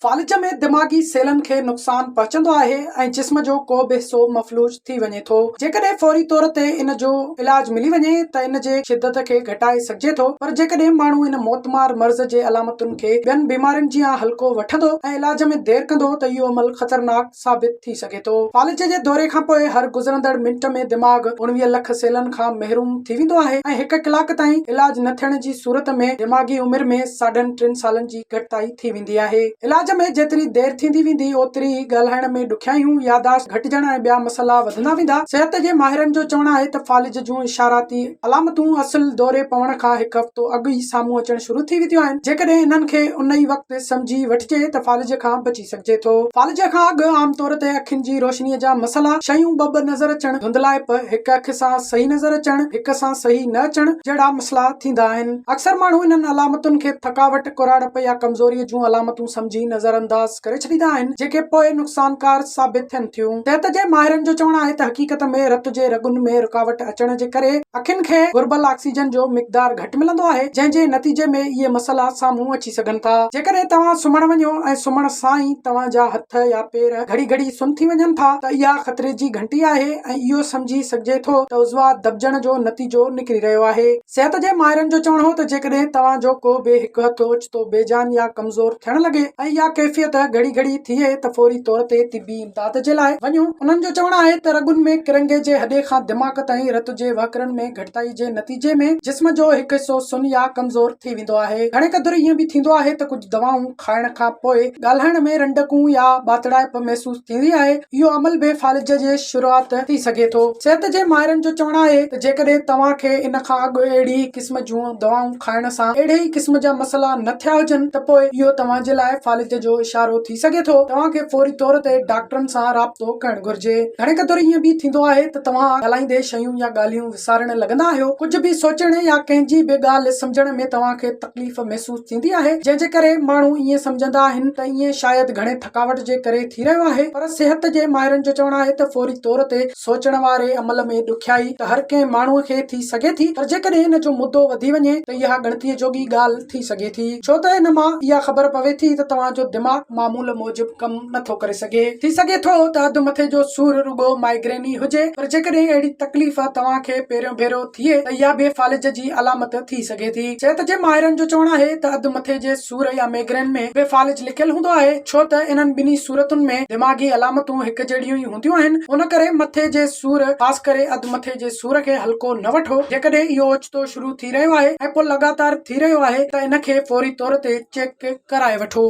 فالج ۾ دماغي سيلن کي نقصان پهچندو آهي ۽ جسم جو ڪو به حصو مفلوج ٿي وڃي ٿو. جيڪڏهن فوري طور تي ان جو علاج ملي وڃي ته ان جي شدت کي گهٽائي سگهجي ٿو پر جيڪڏهن ماڻهو ان موتمار مرض جي علامتن کي ٻين بيمارين جيان هلڪو وٺندو ۽ علاج ۾ دير ڪندو ته اهو عمل خطرناڪ ثابت ٿي سگهي ٿو. فالج جي دوري کان پوء هر گذرندڙ منٽ ۾ دماغ اڻويهه لک سيلن کان محروم ٿي ويندو آهي ۽ هڪ ڪلاڪ تائين علاج نه ٿيڻ جي صورت ۾ دماغي عمر ۾ ساڍن ٽن سالن جي گهٽتائي ٿي ويندي آهي. علاج ۾ جيتري دير ٿيندي ويندي اوتري ئي ڳالهائڻ ۾ ڏکيائيون، ياداشت گهٽجڻ ۽ ٻيا مسئلا وڌندا ويندا. صحت جي ماهرن جو چوڻ آهي ته فالج جون اشاراتي علامتون اصل دوري پوڻ کان هڪ هفتو اڳ ئي سامهون اچڻ شروع ٿي وينديون آهن، جيڪڏهن انهن کي ان ئي وقت سمجهي وٺجي ته فالج کان بچي ڏسي سگهجي ٿو. فالج کان اڳ عام طور تي اکين جي روشنيء جا مسئلا، شيون ٻه ٻه نظر اچڻ، ڌنڌلائپ، هڪ اک سان صحيح نظر اچڻ، هڪ سان صحيح نه اچڻ جهڙا مسئلا ٿيندا آهن. اڪثر ماڻهو انهن علامتن کي ٿڪاوٽ، ڪراڙپ يا ڪمزوريء جون علامتون سمجهي نظر انداز ڪري ڇڏيندا آهن، جيڪي پوء نقصانڪار ثابت ٿين ٿيون. صحت جي ماهرن جو چوڻ آهي ته حقيقت ۾ رت جي رڳن ۾ رڪاوٽ اچڻ جي ڪري اکين کي گهربل آڪسيجن جو مقدار گهٽ ملندو آهي، جنهن جي نتيجي ۾ اهي مسئلا سامهون اچي. ٿي سگهن ٿا. جيڪڏهن توهان سمهڻ وڃو ۽ سمهڻ سان ئي توهان جا هٿ يا پير گهڙي گهڙي سن ٿي وڃن ٿا ته اها خطري جي گهنٽي آهي ۽ اهو سمجهي سگهجي ٿو ته عضوا دٻجڻ جو نتيجو نڪري رهيو آهي. صحت جي ماهرن جو چوڻ هو ته جيڪڏهن توهان جو ڪو به هڪ هٿ اوچتو بي جان يا ڪمزور ٿيڻ لڳي ۽ اها ڪيفيت گهڙي گهڙي ٿئي ته فوري طور تي طبي امداد جي لاء وڃو. انهن جو چوڻ آهي ته رڳن ۾ ڪرنگهي جي هڏي کان دماغ تائين رت جي وهڪرن ۾ گهٽتائي جي نتيجي ۾ جسم جو هڪ حصو سن يا ڪمزور ٿي ويندو آهي. گهڻي قدر ائين به ٿيندو آهي ته ڪجهه دوائون کائڻ کان پوء ڳالهائڻ ۾ رنڊڪون يا ٻاتڙائپ محسوس ٿيندي آهي. اهو عمل به فالج جي شروعات ٿي سگهي ٿو. صحت جي ماهرن جو چوڻ آهي ته جيڪڏهن توهان کي ان کان اڳ اهڙي ئي قسم جون دوائون کائڻ سان اهڙي ئي قسم جا مسئلا نه ٿيا هجن ته پوء اهو توهان جي لاء فالج جو اشارو ٿي ٿي سگهي ٿو توهان کي فوري طور تي ڊاڪٽرن سان رابطو ڪرڻ گهرجي. گهڻي قدر ائين به ٿيندو آهي ته توهان ڳالهائيندي شيون يا ڳالهيون وسارڻ لڳندا آهيو. ڪجهه به سوچڻ يا ڪنهن جي به ڳالهه سمجهڻ ۾ توهان کي تڪليف محسوس ٿيندي آهي جنهن جي ڪري ماڻهو ائين سمجهندا آهن ته ائين شايد گهڻي ٿڪاوٽ جي ڪري ٿي رهيو آهي پر صحت جي ماهرن جو چوڻ آهي ته فوري طور تي سوچڻ واري عمل ۾ ڏکيائي ته هر ڪنهن ماڻهوء کي ٿي سگهي ٿي پر جيڪڏهن ان جو مدو وڌي وڃي ته اها ڳڻتيء جوڳي ڳالهه ٿي سگهي ٿي ڇو ته ان مان اها خبر پوي ٿي ته توهان جو دماغ معمول موجب ڪم نه ٿو ڪري سگهي. ٿي سگهي ٿو ته اڌ مٿي جو سور رڳو مائگرين ئي هجي پر جيڪڏهن اهڙي تڪليف توهان کي پهريون ڀيرو ٿئي ته اها به فالج جي علامت ٿي سگهي ٿي. صحت جي ماهرن جو چوڻ آهي ته اڌ مٿي جي سور يا ميگرين ۾ به فالج لڪيل هوندو آهي، ڇو ته انهن ٻنهي صورتن ۾ دماغي علامتون هڪجهڙيون ئي هونديون آهن، ان ڪري مٿي جي سور خاص ڪري اڌ مٿي جي سور کي هلڪو نه وٺو، جيڪڏهن اهو اوچتو شروع ٿي رهيو آهي ۽ پوء لڳاتار ٿي رهيو آهي ته ان کي فوري طور تي چيڪ ڪرائي وٺو.